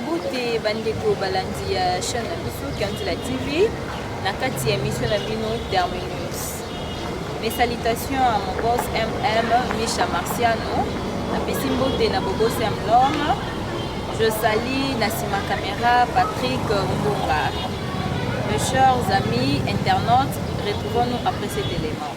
Mbote bandeko balandi ya chaîne na biso Kianzela TV na kati ya mission na bino Terminus. Mes salutations à mon boss MM Misha Marciano, napesi mbote na bobo Sam Lorme, je salis na sima caméra Patrick Mbonga. Mes chers amis internautes, retrouvons-nous après cet élément.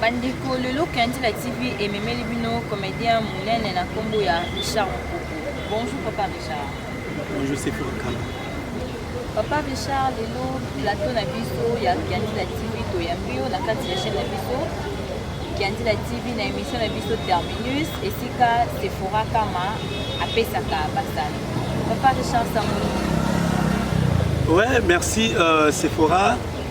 bandeko lelo kendila tv ememeli bino comédien monene na nkombo ya richard mokoko bonjour papa richard bonjour c'est fokana papa richard lelo plateau na biso ya kendila tv toyambi yo na kati ya chaîne na biso kendila tv na émission na biso terminus esika sephora kama apesaka basali papa richard sango ouais merci euh, sephora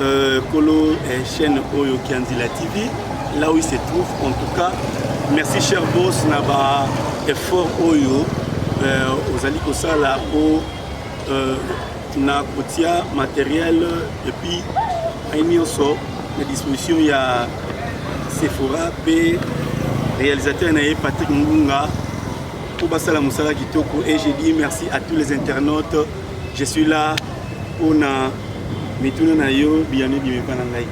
Euh, kolo eh, chaîne oyo kianzila tv là où il se trouve en tout cas merci cher boss na ba effort oyo euh, ozali kosala po euh, na kotia matériel et puis ai nyonso na disposition ya sephora mpe réalisateur na ye patrick ngunga mpo basala mosala kitoko et je dis merci à tous les internautes Je suis là pona mituna na yo biyano ebimi epa na ngai.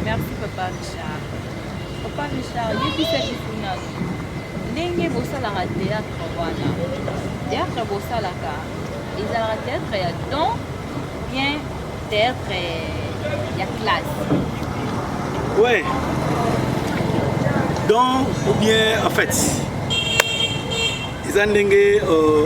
Merci papa Richard. Papa Richard, yebisa biso nanu ndenge bosalaka théâtre wana. Théâtre bosalaka ezalaka théâtre ya don bien théâtre ya classe. Ouais. Don ou bien en fait eza ndenge euh,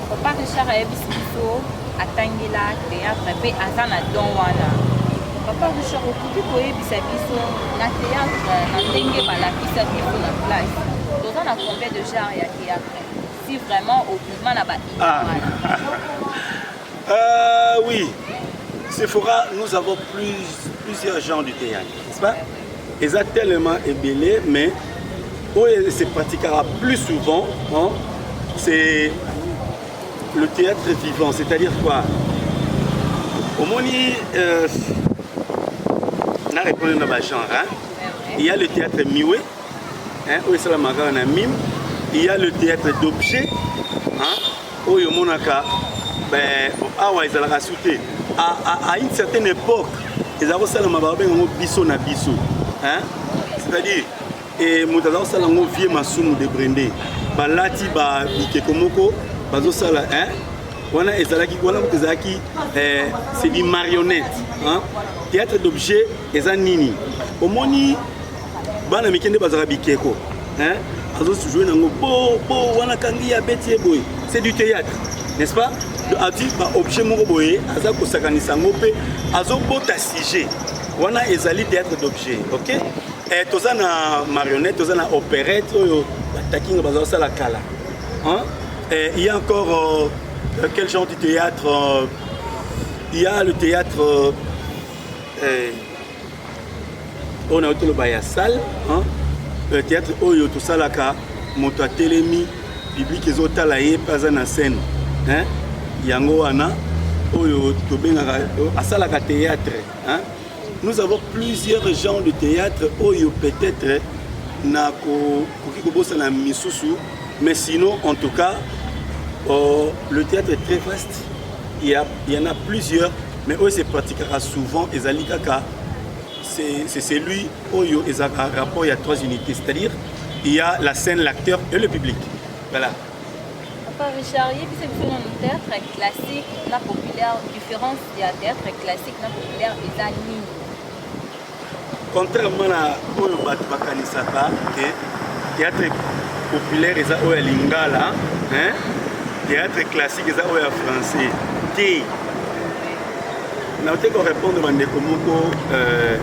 Papa Richard ayebisi biso atangela théâtre mpe aza na don wana. Papa Richard okoki koyebisa biso na théâtre na ndenge balakisa biso na place toza na combien de genre ya théâtre si vraiment obima na ba ah. euh, oui Sephora nous avons plus, plusieurs genres de théâtre n'est-ce pas eza tellement ebele mais oyo se pratiquera plus souvent hein, c'est le théâtre vivant c'est-à-dire quoi omoni euh, na répondre na bagenre hein? il y a le théâtre miwe hein, oyo esalamaka na mime il y a le théâtre d'objet hein? oyo omonaka eh, awa ezalaka su te à une certaine époque eza kosalama babenga yango biso na biso c'est-à-dire eh, moto aza kosala yango vie masumu de brende balati bikeko moko bazosala wana ezalaki wana moto ezalaki eh, c'est du marionnette théâtre d'objet eza nini omoni bana mike nde bazalaka bikeko azojoue nango bo bo wana kangi ya beti ye boye c'est du théâtre n'est-ce pas ati baobjet moko boye aza kosakanisa yango mpe azobota sujet wana ezali théâtre d'objet ok eh, toza na marionnette toza na opérette oyo batakinga baza kosala kala eh, il y a encore euh, euh, quel genre de théâtre euh, il y a le théâtre euh, eh, oyo nayo toloba ya salle peut-être oyo tosalaka moto atelemi publike ezotala ye mpe aza na scène yango wana oyo tobengaka asalaka théâtre hein? nous avons plusieurs genres de théâtre oyo peut-être na koki kobosana misusu mais sinon en tout cas euh, le théâtre est très vaste Il y, a, il y en a plusieurs, mais oyo se pratiquaka souvent ezali kaka c'est celui oyo ezalaka rapport ya trois unités, c'est-à-dire il y a la scène, l'acteur et le public. Voilà. Papa Richard, yebisa biso nanu théâtre classique na populaire, différence ya théâtre classique na populaire eza nini? Contrairement na oyo bato bakanisaka que théâtre populaire eza oyo ya lingala hein? théâtre classique eza oyo ya français te naote korépondre bandeko moko euh,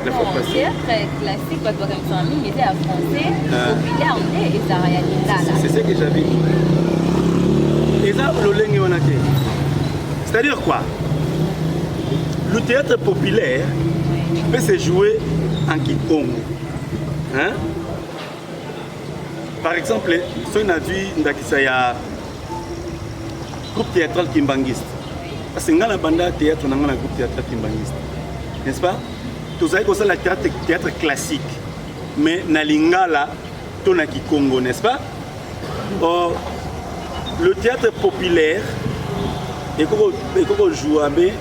la fois passée théâtre classique bato bakanisaka mingi eza ya français ah. populaire nde ezala ya lingala c'est ce que j'avais eza lolenge wana te C'est-à-dire quoi Le théâtre populaire peut se jouer en Kikongo. Hein Par exemple, soki nazwi ndakisa ya groupe théâtral kimbanguiste parce que ngai na banda théâtre na ngai na groupe théâtral kimbanguiste n'est-ce pas tozali kosala théâtre classique mais na lingala to na kikongo n'est-ce pas or le théâtre populaire ekoko joua be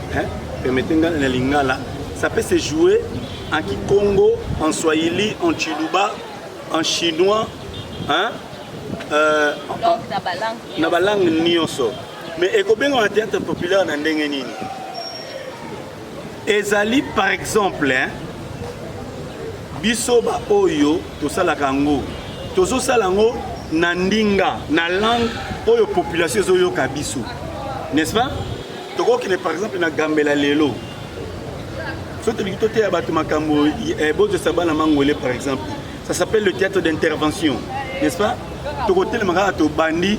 permettez nga na lingala ça peut se jouer en kikongo en swahili en chiluba en chinois hein? Euh, na balangue nyonso mais ekobengama théâtre populaire na ndenge nini ezali par exemple hein? biso baoyo tosalaka yango tozosala yango na ndinga na langue oyo population ezoyoka biso n'est-ce pas tokokende par exemple na gambela lelo soki tolingi toteya bato makambo eh, bozwisa bana mangwele par exemple ça s'appelle le théâtre d'intervention n'est-ce pas tokotelema kaka tobandi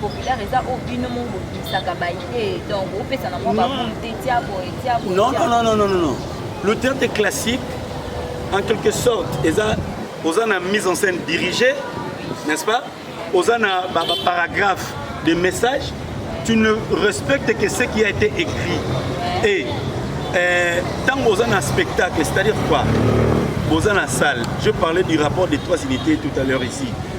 populaire eza oyo bino moko bobimisaka baidee donc opesa na mwa bakonte tia boye tia boye non non non non non le théâtre classique en quelque sorte eza oza na mise en scène dirigée n'est-ce pas oza na baparagraphe de message tu ne respectes que ce qui a été écrit et ntango euh, oza na spectacle c'est-à-dire quoi boza na salle je parlais du rapport des trois unités tout à l'heure ici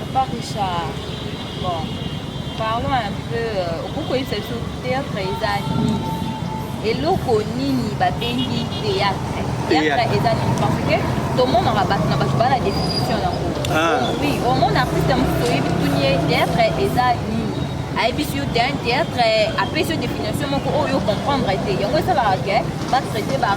Papa Richard, bon, parlons un peu, euh, okoki koyebisa biso théâtre eza nini? Eloko nini babengi théâtre? Théâtre eza nini? Parce que tomonaka bato na bato bana définition yango. Ah. Oui, omona artiste mosusu oyebi tuni ye théâtre eza nini? ayebisi yo te un théâtre apesi yo définition moko oyo comprendre te yango esalaka ke batraite ba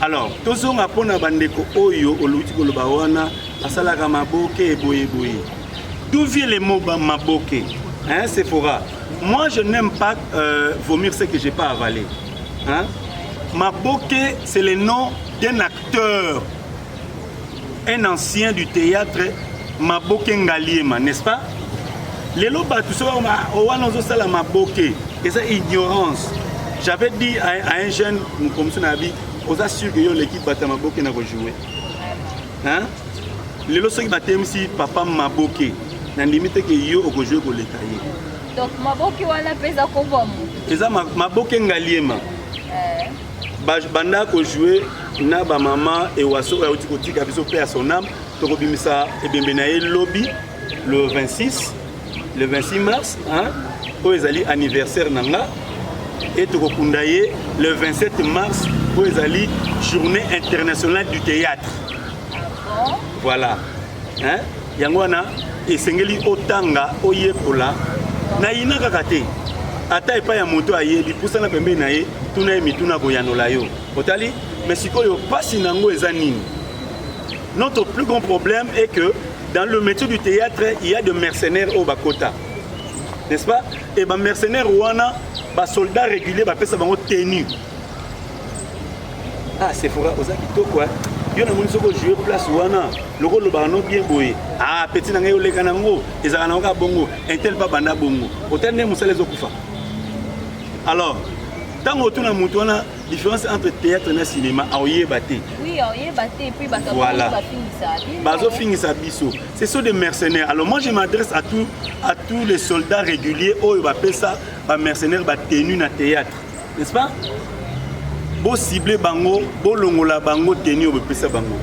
Alors, tozonga mpo na bandeko oyo oluti koloba wana basalaka maboke eboye boye. D'où vient le mot maboke hein, Sephora Moi, je n'aime pas euh, vomir ce que j'ai pas avalé. Hein? Maboke, c'est le nom d'un acteur un ancien du théâtre maboke ngaliema n'est-ce pas lelo bato soki oh, wana ozosala maboke eza ignorance j'avais dit à, à un jeune mokomisi na yabi oza sur ke yo oleki bato ya maboke na kojoue hein? lelo soki batemisi papa maboke nandimi te ke yo okojoue koleka ye donc maboke wana mpe eza kobwa moto eza maboke ngaliema eh. banda ko jouer na ba mama ewaso oyo auti kotika biso pe ya son âme tokobimisa ebembe na ye lobi le 26 le 26 mars hein, oyo ezali anniversaire na nga e tokokunda ye le 27 mars oyo ezali journée internationale du théâtre voilà hein yango wana esengeli otanga oyekola nayina kaka te ata epai ya moto ayebi pusana pembeni na ye tuna ye mituna koyanola yo otali mais sikoyo mpasi na yango eza nini notre plus grand problème est que dans le métier du théâtre il y a de mercenaires oyo bakota n'est-ce pas et bamercenaire wana basoldat régulier bapesa bango tenue Ah, Sephora, oza kitoko hein. Yo na moni soko jouer place wana, loko lobaka no bien boye. Ah, petit na ngai oleka na ngo, ezala na oka bongo, intel pa banda bongo. Otel ne musala ezo kufa. Alors, tango otuna mutu wana différence entre théâtre na cinéma aoyeba te voilà bazofingisa biso ce sont des mercenaires alors moi je m'adresse à, tout, à tous les soldats réguliers oyo bapesa bamercenaire batenu na théâtre n'est-ce pas bo cible bango bolongola bango tenue oyo bopesa bango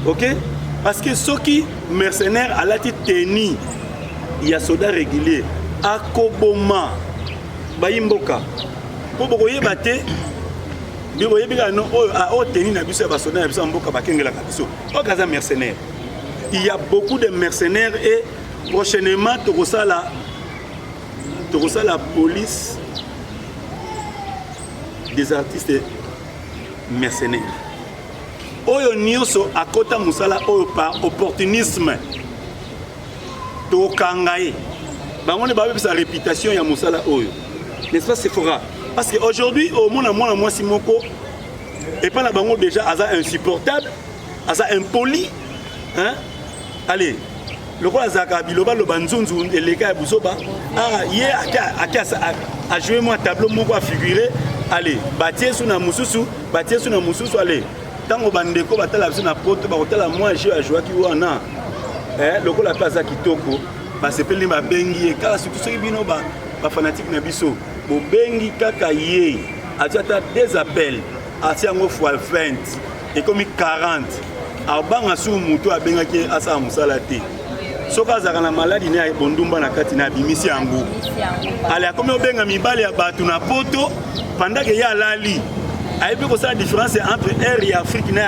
ok parce que soki mercenaire alati tenue ya soda régulier akoboma bayi mboka mpo bokoyeba te nde boyebi kaka no oyo ah, oyo tenue na biso ya basoda na biso ya mboka bakengelaka biso oyo kaza mercenaire il y a beaucoup de mercenaires et prochainement tokosala tokosala police des artistes mercenaires oyo nyonso akota mosala oyo par opportunisme tokanga ye bango nde babebisa réputation ya mosala oyo n'est-ce pas sephora parce que aujourd'hui omona mwana mwasi moko epai na bango déjà aza insupportable aza impoli hein? allez lokola azalaka bilobaloba nzunzu eleka ya buzoba ah, ye ajoue mwa tableau moko afigure ale batie su na mosusu batie su na mosusu ale ntango bandeko batala biso na poto bakotala mwa jeu ajoaki wana eh, lokola mpe aza kitoko basepeli babengi ye kaka surtout soki bino bafanatike na biso bobengi kaka ye ati ata des appels ati yango fois 20 ekomi 40 abanga sur moto abengaki ye asala mosala te soki azalaka na maladi na ya bondumba na kati na abimisi yango ale akomi obenga mibali ya bato na poto pandake ye alali ayebi kosala différence entre air ya afrique na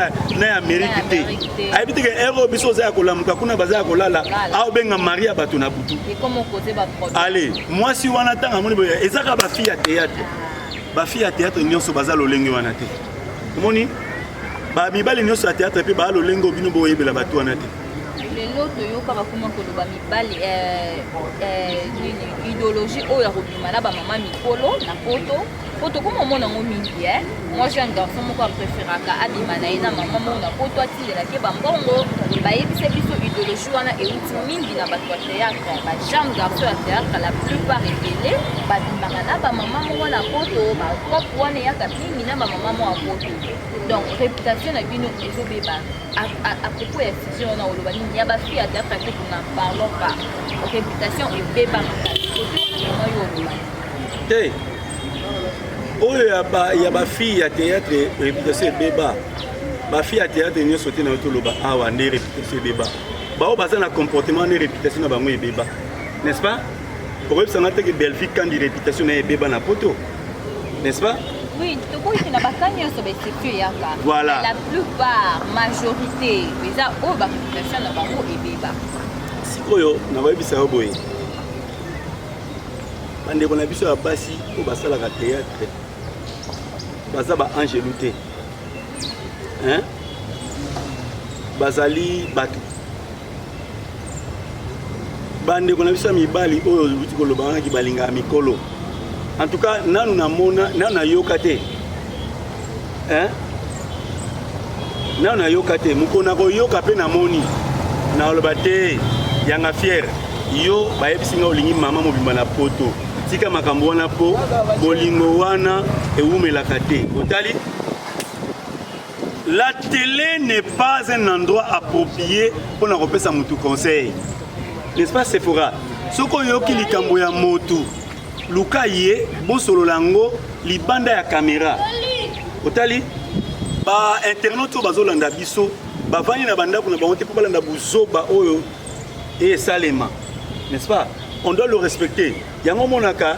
ya amérique te ayebi te ke air oyo biso oza ya kolamuka kuna baza ya kolala aobenga mari ya bato na butu ale mwasi wana ntango amoni boye ezaka bafille ya théâtre bafille ya théâtre nyonso baza lolenge wana te omoni ba mibali nionso ya théâtre pe ba lolengo bino boyebela bato wana te lelo toyoka bakoma koloba mibali eh, eh, nini idéologie oyo ya kobima na bamama mikolo na poto po tokoma omona yango mingi e eh. mwa jeune garçon moko apréféraka abima na ye na mama moko na poto atindelaki bambongo bayebisa biso idéologie wana euti mingi na bato ya théâtre bajeune garçon ya théâtre la plupart ebele babimaka na bamama moko na poto bacope wana eyaka mingi na bamama mwa poto donc réputation na bino ezobeba à propos ya fusion wana oloba nini ya bafi ya daka te kuna parlon pas réputation ebeba makasi kotoaa yo oloba te oyo ya bafille ya théâtre réputation ebeba bafille ya théâtre nyonso te na yo toloba awa nde réputation ebeba baoyo baza na comportement nde réputation na bango ebeba n'est-ce pas okoyebisa nga te ke bellevie kandi réputation na ye ebeba na poto n'est-ce pas oui tokoki na baka nyonso baexception eyaka voilà la plupart majorité eza oyo bapopulation na bango ebeba sikoyo na bayebisa yo boye bandeko na biso ya basi oyo basalaka théâtre baza baangelu te bazali bato bandeko na biso ya mibali oyo oluti koloba wana ki balingaka mikolo en tout cas nanu namona nanu nayoka te hein? nanu nayoka te mokolo nakoyoka mpe namoni nakoloba te yanga fiere yo bayebisi nga olingi mama mobimba na poto tika makambo wana mpo bolingo wana ewumelaka te otali La tele n'est pas un endroit approprié mpo na kopesa motu conseil n'est-ce pas Sephora soki oyoki likambo ya motu luka ye bosolola yango libanda ya kamera otali bainternaute oyo bazolanda biso bavandi na bandako na bango te mpo balanda buzoba oyo esalema n'est-ce pas on doit le respecter yango omonaka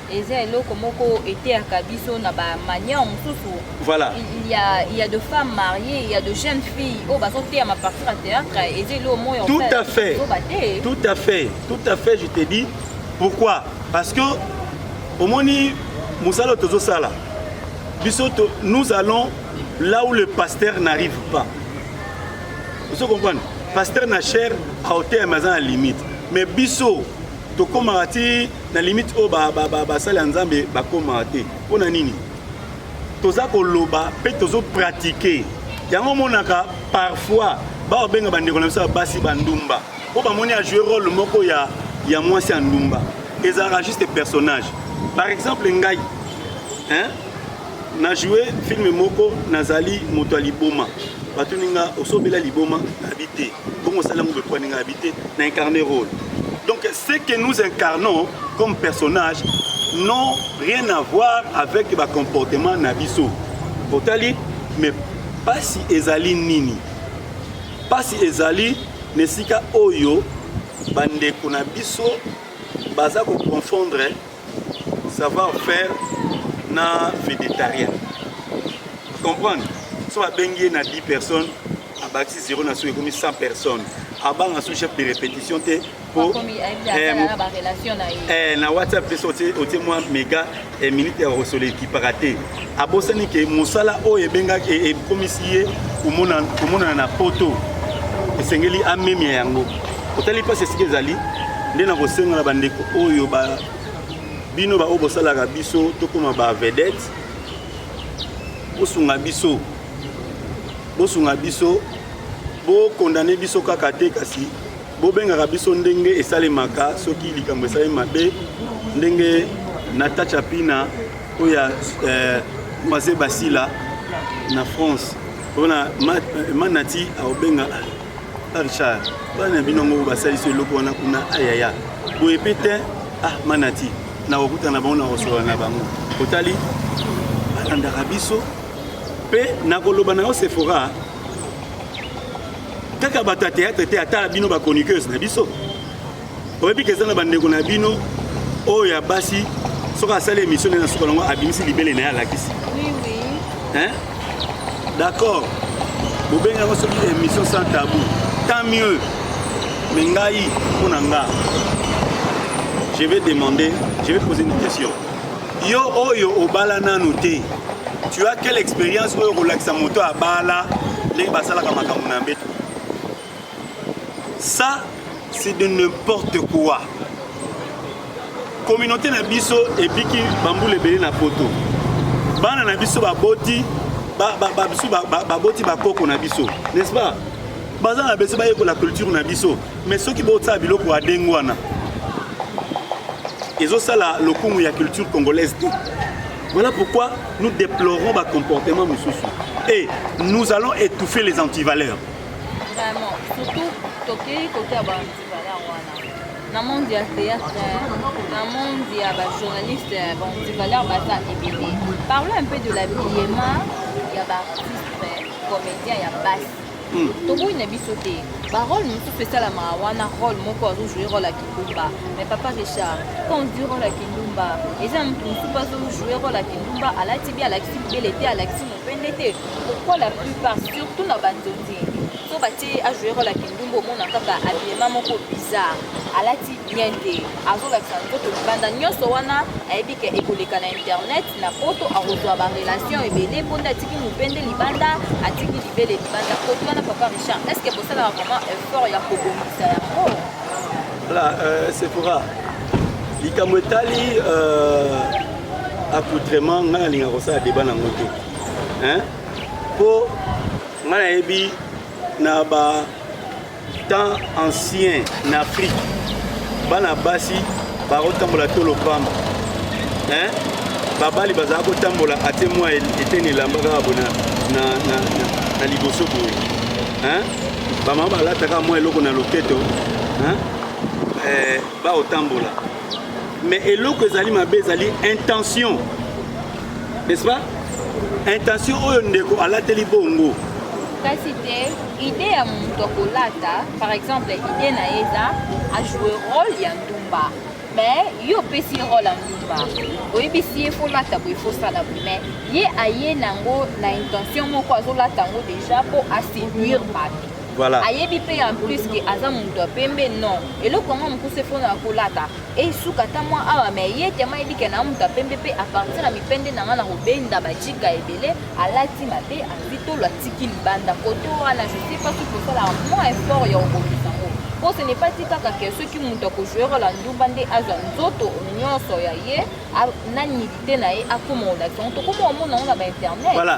eza eloko moko eteyaka biso na ba manière mosusu voilà il y a il y a de femmes mariées il y a de jeunes filles oyo bazoteya ma partir ya théâtre eza eloko moyo tout à fait tout à fait tout à fait je te dis pourquoi parce que omoni mosala tozosala biso nous allons là où le pasteur n'arrive pas ozo comprendre pasteur na cher aoteyama aza na limite mais biso tokomaka ti na limite oyo basali ya nzambe bakomaka te mpo na nini toza koloba mpe tozopratike yango omonaka parfois baobenga bandeko na biso ya basi bandumba mpo bamoni ajoue role moko ya, ya mwasi ya ndumba ezalaka juste personnage par exemple ngai hein? na joue film moko nazali moto ya liboma batuni nga osobela liboma nayebi te bongo osali yango bekwani nga yebi te na incarne role donc ce que nous incarnons comme personnage n'ont rien à voir avec bacomportement na biso otali mais mpasi ezali nini mpasi ezali na esika oyo bandeko na biso baza koconfondre savoir faire na vedetarien comprendre so babengi ye na 10 personnes abakisi zero na soki ekomi 100 personnes abanga so chef de répétition te po eh, eh, na whatsapp mpe so otie mwa mega eh, minute ya kosolo ekipaka te abosani ke mosala oyo ebengaki e, ekomisi ye komonana na poto esengeli amemia yango otali mpasi esika ezali nde na kosenga na bandeko oyo ba bino baoyo bosalaka biso tokoma ba vedette bosunga biso bosunga biso bokondane biso kaka te kasi bobengaka biso ndenge esalemaka soki likambo esalemi mabe ndenge natacha pina oyo ya eh, mwase basila na france mpona manati aobenga ah, richard bana na bino yango basalisi eloko wana kuna ayaya boye mpe te ah manati nakokutana na bango nakosolola na bango otali balandaka biso mpe nakoloba na yo sephora kaka bato ya théâtre te ata bino bachroniqueuse na biso oyebi ke eza na bandeko na bino oyo ya basi soki asali émission nde na suka nango abimisi libele na ye alakisi hein d'accord bobengi yango soki émission sans tabou tant mieux mais ngai mpo na nga je vais demander je vais poser une question yo oyo obala nanu te tu as quelle expérience oyo kolakisa moto abala ndenge basalaka makambo na mbeto ça c'est de n'importe quoi communauté na biso ebiki bambula ebele na poto bana na biso baboti biso baboti bakoko na biso n'est-ce pas baza na bese bayekola culture na biso mais soki botsala biloko ya ndenge wana ezosala lokumu ya culture congolaise te voilà pourquoi nous déplorons bacomportement mosusu et nous allons étouffer les antivaleurs Vraiment, surtout tokei kote ya bantivala wana na monde ya théâtre na monde ya bajournaliste bantivaleur baza ebele parle un peu de l'habillement ya baartiste comédien ya basi hmm. toboyi na biso te barole mosusu esalamaka wana role moko azojoue role ya kindumba mais papa richard quand di role ya kindumba eza motu mosusu azojoue role ya kindumba alati bi alakisi bibele te alakisi pende te pourquoi la plupart surtout na banzonzi so batie ajoue role ya kindumba omona kaka abilema moko bizarre alati bien te azolakisa nzoto libanda nyonso wana ayebi ke ekoleka na internet na poto akozwa barelation ebele mpo nde atiki mopende libanda atiki libele libanda koto wana papa richard est ce que bosalaka vraiment effort ya kobongisa yango voilà euh, sephora likambo etali euh... accoutrement ngai nalinga kosala deba nango te mpo ngai nayebi na ba temps ancien na afrique bana basi bakotambola to lopamba babali bazala kotambola ate mwa eteni elamba kaka bo na liboso boye bamama balataka mwa eloko na loketo eh, bakotambola mais eloko ezali mabe ezali intention n'est-ce pas intention oyo ndeko alateli bongo kasi te ide ya moto akolata par exemple ide na ye eza ajoue role ya ndumba mais yo opesi ye role ya ndumba oyebisi ye folata boye fosala boye mais ye aye nango na intention moko azolata yango déjà mpo aseduire bato Voilà. ayebi mpe en plus ke aza moto ya pembe non eloko yango mokusu efona ya kolata esuka ata mwa awa me ye tema ayebi ke na moto ya pembe mpe apartir ya mipende na ngai na kobenda bajika ebele alati mabe azwi tolo atiki libanda koto wana je sais pas soki osalaka mwa effort ya kobongisa yango mpo ce n'est pas ti kaka ke soki moto akojouere la ndumba nde azwa nzoto nyonso ya ye a- na nidite na ye akoma olakisa yango tokoma omona yango na bainternet Voilà.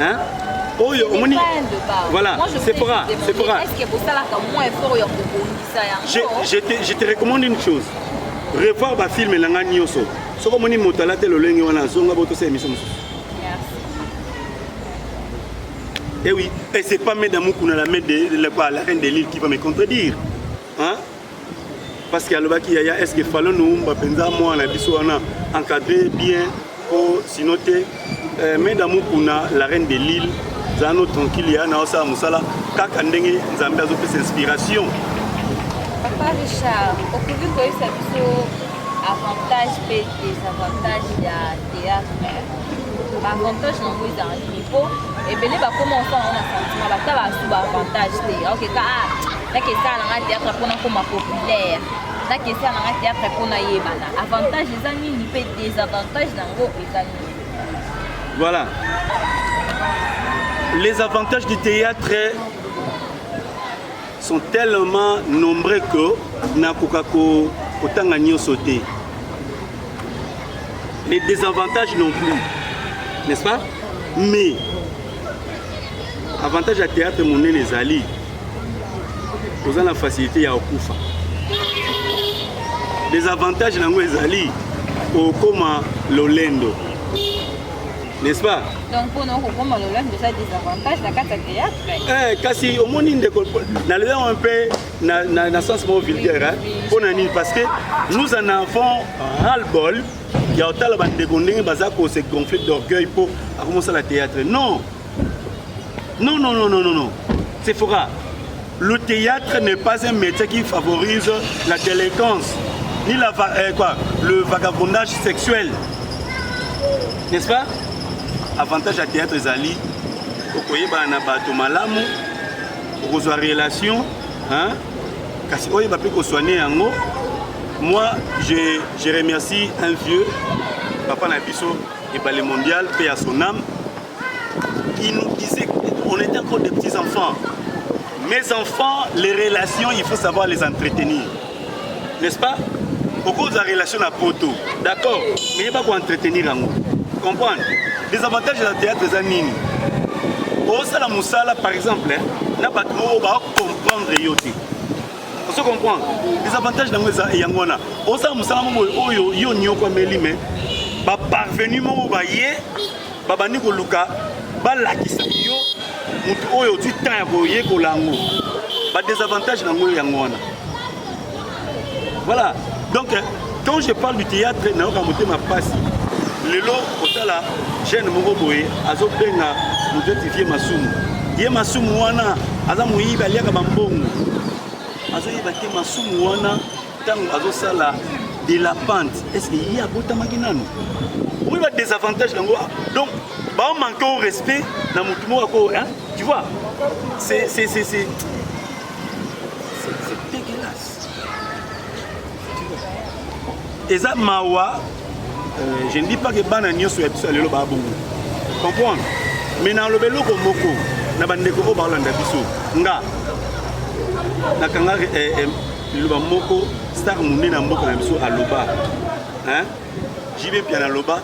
hein oyo omoni voilà c'est pour c'est pour est-ce que bosalaka moins effort ya kobongisa yango je te je te recommande une chose revoir ba film na ngai nyonso soki omoni moto alate lolenge wana azonga bo tosala émission mosusu Eh oui, et c'est pas Mme Moukouna, la, la, la reine des Lilles, qui va me contredire. hein? parce que alobaki yaya est-ce que falo noumba penza mwana biso wana encadré bien po sinon te euh, mais d'amour kuna la reine de l'île zano tranquille ya na osala musala kaka ndenge nzambe azopesa inspiration papa richard okoki koyebisa biso avantage mpe desavantage ya théâtre baavantage nango ezala nini mpo ebele bakoma osala yango na sentiment bata basu baavantage te okeka nake esala na ngai théâtre mpo nakoma populaire nake esala na ngai théâtre mpo nayebana avantage eza nini mpe désavantage na yango eza nini voilà les avantages du théâtre sont tellement nombreux que nakoka kotanga nyonso te les désavantages non plus n'est-ce pas mais avantage ya théâtre monene ezali oza na facilité ya okufa desavantage na yango ezali okoma lolendo n'est-ce pas donc mpona okokoma lolendo eza desavantage na kati ya théâtre eh, kasi omoni ndeko nalobi yango mpe na, na, na sens moko vulgaire mpo na nini parce que nous en avons ras le bol ya otala bandeko ndenge baza kose gonfle d'orgueil mpo akomosala théâtre non Non, non, non, non, non, non. C'est faux. Le théâtre n'est pas un métier qui favorise la délinquance, ni la, euh, quoi, le vagabondage sexuel. N'est-ce pas Avantage à théâtre ezali okoyebana na bato malamu okozwa relation hein? kasi oyeba mpe kosoigne yango moi je, je remercie un vieux papa na biso ebale mondial mpe ya son âme il nous disait on était encore des petits enfants mes enfants les relations il faut savoir les entretenir n'est-ce pas okoki la relation na poto d'accord mais yeba koentretenir yango comprendre les avantages ya théâtre eza nini osala mosala par exemple hein, na bato moko bacomprendre yo te ozo comprendre les avantages nango eza yango wana osala mosala moko oyo yo niokwameli mais baparvenu moko baye babandi koluka balakisa yo motu oyo ozwi temps ya koyekola yango badesavantage na yango yango wana voilà donc quand je parle du théâtre nayoka motema mpasi lelo kotala jeune moko boye azobenga moto eti vie masumu ye masumu wana aza moyibi aliaka bambongo azoyeba te masumu wana Tango azo sala de la pente est-ce que ye abotamaki nanu oui ba désavantage nango ah, donc ba manque au respect na mutu moko ko hein tu vois c'est c'est c'est c'est c'est dégueulasse eza mawa Euh, je ne dis pas que bana nyoso ya biso ya lelo ba bongo. Comprendre? Mais na lobe loko moko na bandeko oyo baolanda biso nga nakanga eh, eh, liloba moko star monene ya mboka na biso aloba hein? JB Piana aloba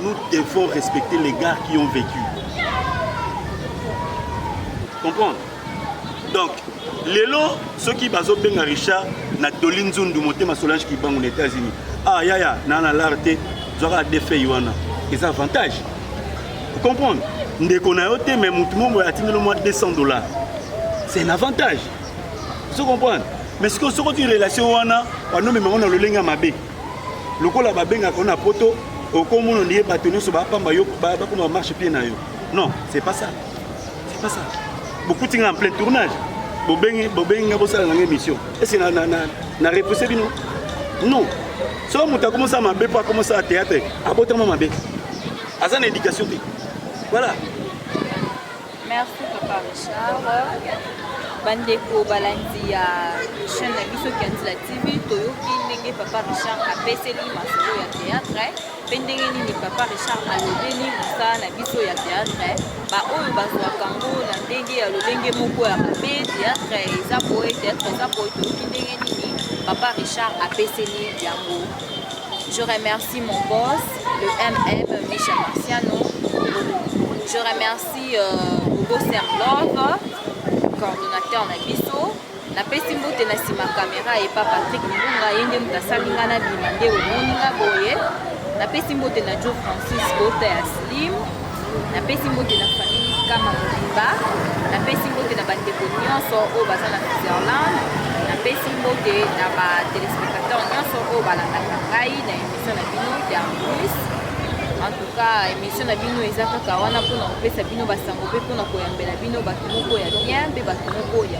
nous devons respecter les gars qui ont vécu. Comprendre? donc lelo soki bazobenga richard na doli nzundu motema solange kibangu na états-unis ah yaya naa na lar te zwaka defei wana eza avantage ocomprendre ndeko na yo te mai motu momo atindelo mwa 200 dollars c'est un avantage ozo comprendre mais sikoyo soko ti relation wana wanomembango na lolenge ya mabe lokola babengaka na poto okomona ndiye bato nyonso bapamba yo bakoma marche pie na yo non c'est pas ça bokuti nga en plein tournage bobengi bobengi nga bosala nanga émission est-ce que na na na, na repousse bino non so moto akoma osala mabe mpo akoma osala théâtre abotama mabe aza na éducation te voilà merci papa richard bandeko balandi ya chaîne na biso kianzila tv toyoki ndenge papa richard apeseli masolo ya théâtre Mpe ndenge nini papa Richard alobeli mosala na biso ya teatre baoyo bazwaka yango na ndenge ya lolenge moko ya mabe teatre eza boye teatre eza boye toyoki ndenge nini papa Richard apeseli yango Je remercie mon boss, le MM Michel Marciano. Je remercie euh, Hugo Serlov, coordonnateur Nabiso. Napesi mbote na sima kamera epa Patrick Mbunga ye nde moto asali nga na bima nde omoni nga boye. Napesi mbote na Joe Francis kota ya Slim. Napesi mbote na famille Kama Mobimba. Napesi mbote na bandeko nyonso oyo baza na Switzerland. Napesi mbote na ba telespectateurs nyonso oyo balandaka ngai na emission na bino ya plus en tout cas émission na bino eza kaka wana mpona kopesa bino basango mpe mpona koyambela bino bato moko ya bien mpe bato moko ya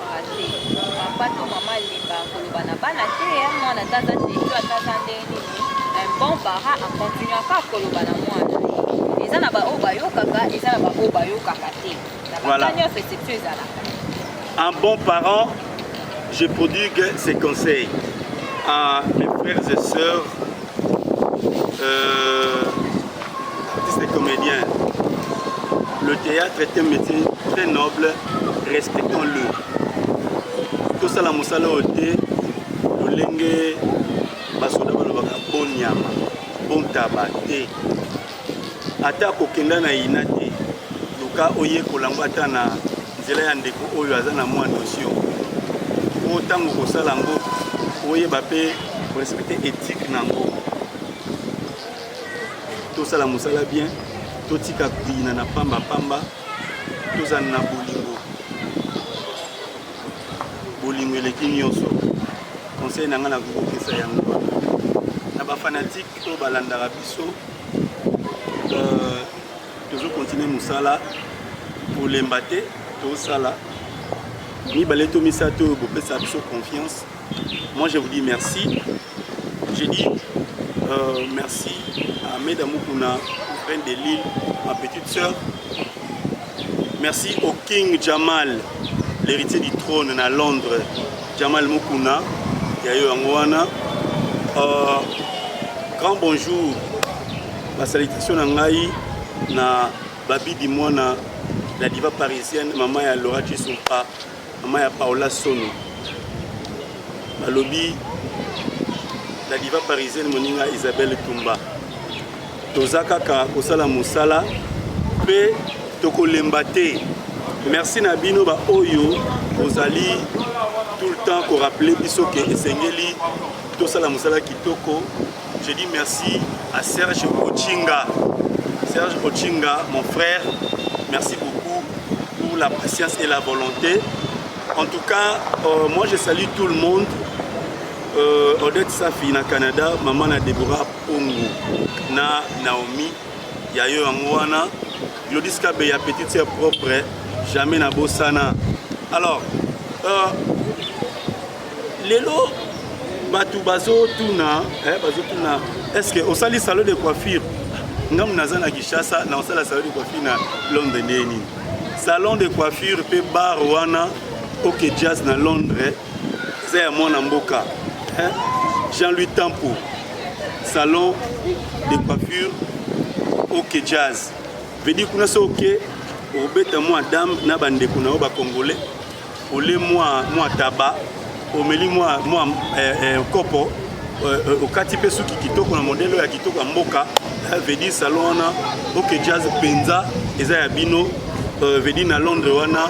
Un bon parent, je prodigue ses conseils à mes frères et sœurs Euh, artiste et comédien. Le théâtre est un métier très noble, respectons-le. tosala mosala oyo te lolenge basoda balobaka bonyama bontaba te Ata kokenda na ina te, luka oyekola yango ata na nzela ya ndeko oyo aza na mwa notion po ntango kosala yango oyeba mpe korespecte ethique na yango tosala mosala bien totika koyina na pamba pamba tozala na bolingo bolingo eleki nyonso conseil na ngai nakokokisa yango na bafanatike oyo balandaka biso euh, tozo continue mosala kolemba te tosala mibale to misato oyo bopesa biso confiance moi je vous dis merci je dis euh, merci à meda mukuna reine de lille ma petite sœur merci au king jamal l'héritier du trône na londres Jamal Mukuna ya yo yango wana uh, grand bonjour basalutation na ngai na babidi mwana la diva parisienne mama ya Laura Chisumpa mama ya Paola Sono balobi la diva parisienne moninga Isabelle Tumba Toza kaka kosala mosala mpe tokolemba te. Merci na bino ba oyo bozali tout le temps ko rappeler biso ke esengeli tosala mosala kitoko. Je dis merci à Serge Ochinga. Serge Ochinga, mon frère, merci beaucoup pour la patience et la volonté. En tout cas, euh, moi je salue tout le monde. Euh, Odette Safi na Canada, maman na Deborah Ongu na Naomi ya yo yango wana Glodis Kabeya petite sœur propre jamais na bosana alors euh, lelo bato bazotuna eh, bazotuna est-ce que osali salon de coiffure ngambo naza na Kinshasa na osala salon de coiffure na Londres ndenge nini salon de coiffure mpe bar wana ok jazz na Londres eza ya mwana mboka eh? Jean-Louis Tampo salon de coiffure ok jazz veut dire kuna so ok obeta mwa dame na bandeko na yo bacongolais ole mwa mwa taba omeli mwa mwa eh, eh, kopo eh, eh, okati mpe suki kitoko na modele oyo ya kitoko ya mboka eh, veut dire salon wana ok jazz mpenza eza ya bino euh, veut dire na londres wana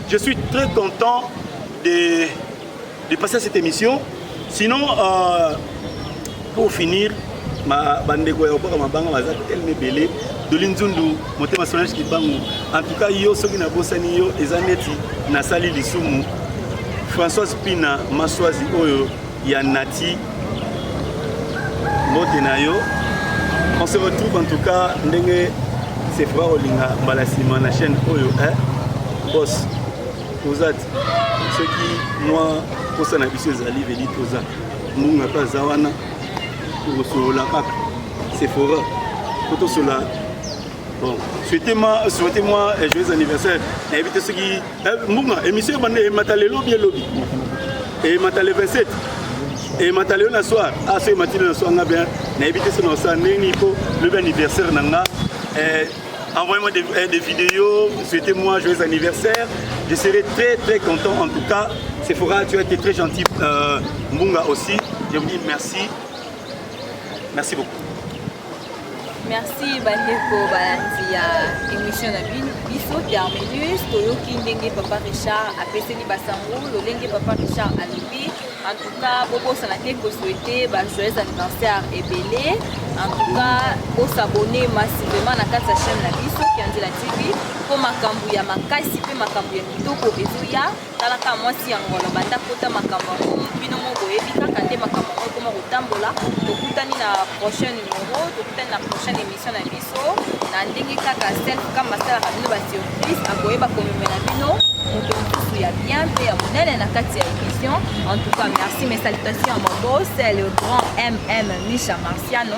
Je suis très content de, de passer à cette émission. Sinon, euh, pour finir, ma bandeko ya obaka mabanga baza tellement ebele doli nzundu motema solange kibangu en tout cas yo soki nabosani yo eza neti nasali lisumu françoise pina maswazi oyo Ya Nati, mbote na yo. On se retrouve en tout cas ndenge c'est vrai olinga mbala nsima na chaîne oyo eh? boss toza ti soki mwa mposa na biso ezali veli toza mbunga mpe aza wana tokosolola kaka sephora po tosolola Bon, souhaitez-moi souhaitez moi eh, joyeux anniversaire. Nayebi te soki eh, mbunga émission ebanda emata lelo bi elobi. Emata le 27. Emata lelo na soir. Ah soki emati na soir nga bien. Nayebi te soki na osala ndenge nini po lobi anniversaire na nga. Eh, Envoyez-moi des, eh, des vidéos, souhaitez-moi joyeux anniversaire. Je serai très très content en tout cas. Sephora, tu as été très gentil. Euh, Mbunga aussi. Je vous dis merci. Merci beaucoup. merci bandeko balandi ya émission na bino biso terminus toyoki ndenge papa richard apeseli basango lolenge papa richard alobi en tout cas bobosana te koswete bajoyeux anniversaire ebele en tout cas bosabone massivement na kati ya chaîne na biso kianzela tv mpo makambo ya makasi mpe makambo ya kitoko ezoya talaka mwasi ya ngono banda kota makambo yango bino moko boyebi kaka nde makambo yango ekoma kotambola tokutani na prochain numero tokutani na prochaine émission na biso na ndenge kaka self kama asalaka bino basurprise akoyeba komemela bino moto mosusu ya bien mpe ya monene na kati ya émission en tout cas merci mes salutations ya mabos le grand mm misha marciano